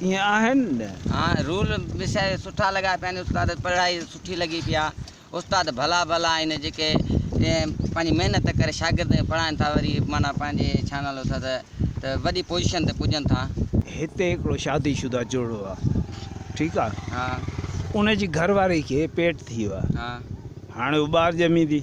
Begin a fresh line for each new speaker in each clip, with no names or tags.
ائين آهن نه.
ها رول
مسائل سٺا لڳا پيا آهن استاد پڙهائي سٺي لڳي پيا استاد ڀلا ڀلا آهن جيڪي پنهنجي محنت ڪري شاگردن کي پڙهائن ٿا وري معنيٰ پنهنجي ڇا نالو اٿس ته وڏي پوزيشن تي پڄن ٿا. هتي هڪڙو
شادي شده جوڙو آ ٺيڪ آ ان
جي گهر
واري کي پيٽ ٿي ويو آ هاڻي
هو ٻار
ڄميندي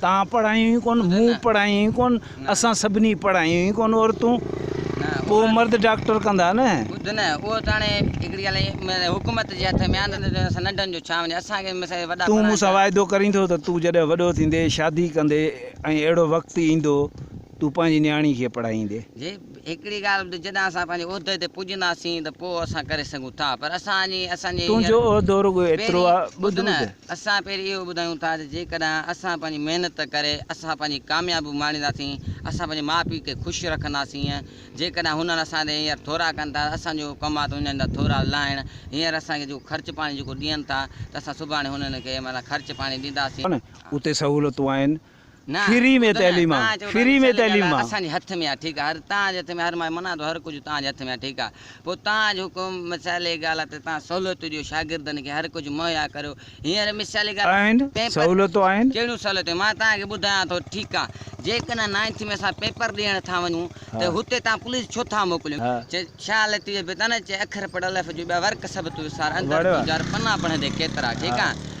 تان پڙهايون ئي ڪون، مون پڙهايون ئي ڪون، اسان سڀني پڙهايون ئي ڪون عورتون، پوء مرد ڊاڪٽر ڪندا نه. ٻڌ نه، اهو ته
هاڻي هڪڙي ڳالهه حڪومت جي هٿ ۾ آهي ته اسان ننڍن جو ڇا وڃي، اسان کي مثال وڏا پڙهائين ٿا. تون مون سان واعدو ڪرين
ٿو ته تون جڏهن وڏو ٿيندين، شادي ڪندين ۽ اهڙو وقت ايندو، تون پنهنجي نياڻي کي پڙهائيندين. جي هڪڙي ڳالهه ته
جڏهن اسان پنهنجي عهدي تي پڄنداسين ته پوء اسان ڪري سگهون ٿا پر اسان جي اسان جي تون جو هينئر عهدو رڳو
ايترو آ پهرين ٻڌ ٻڌ نه ته. اسان
پهرين اهو ٻڌايون ٿا ته جيڪڏهن اسان پنهنجي محنت ڪري اسان پنهنجي ڪاميابيون ماڻينداسين اسان پنهنجي ماء پيء کي خوش رکنداسين جيڪڏهن هنن اسان تي هينئر ٿورا ڪن ٿا ته اسان جو ڪم آ ته هنن جا ٿورا لاهڻ هينئر اسان کي جيڪو خرچ پاڻي جيڪو ڏين ٿا ته اسان سڀاڻي هنن کي معنيٰ خرچ پاڻي ڏينداسين. اتي سهولتون
آهن. فري ۾ تعليم آ فري ۾ تعليم آ. اسان جي هٿ ۾ آ ٺيڪ آ هر
تان جي هٿ ۾ هر ماء منان ٿو هر ڪجهه تان جي هٿ ۾ آ ٺيڪ آ پوء تان جو حڪم مثالي ڳالهه آ ته تان سهولتون ڏيو شاگردن کي هر ڪجهه مهيا ڪريو هينئر مثالي ڳالهه آهن پيپر سهولتون آهن. ڪهڙيون
سهولتون مان تان
کي ٻڌايان ٿو ٺيڪ آ جيڪڏهن نائنٿ ۾ اسان پيپر ڏيڻ ٿا وڃون ها ته هتي تان پوليس ڇو ٿا موڪليون ها چي شاهه لطيف بي تان نه چي اکر پڙهه الف جو ٻيا ورق سڀ تو وسار اندر وڙ تون وڙ جار پنا پڙهندي ڪيترا ٺيڪ ها آ.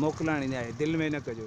موڪلائڻ اڃا هي دل ۾ نه ڪجو.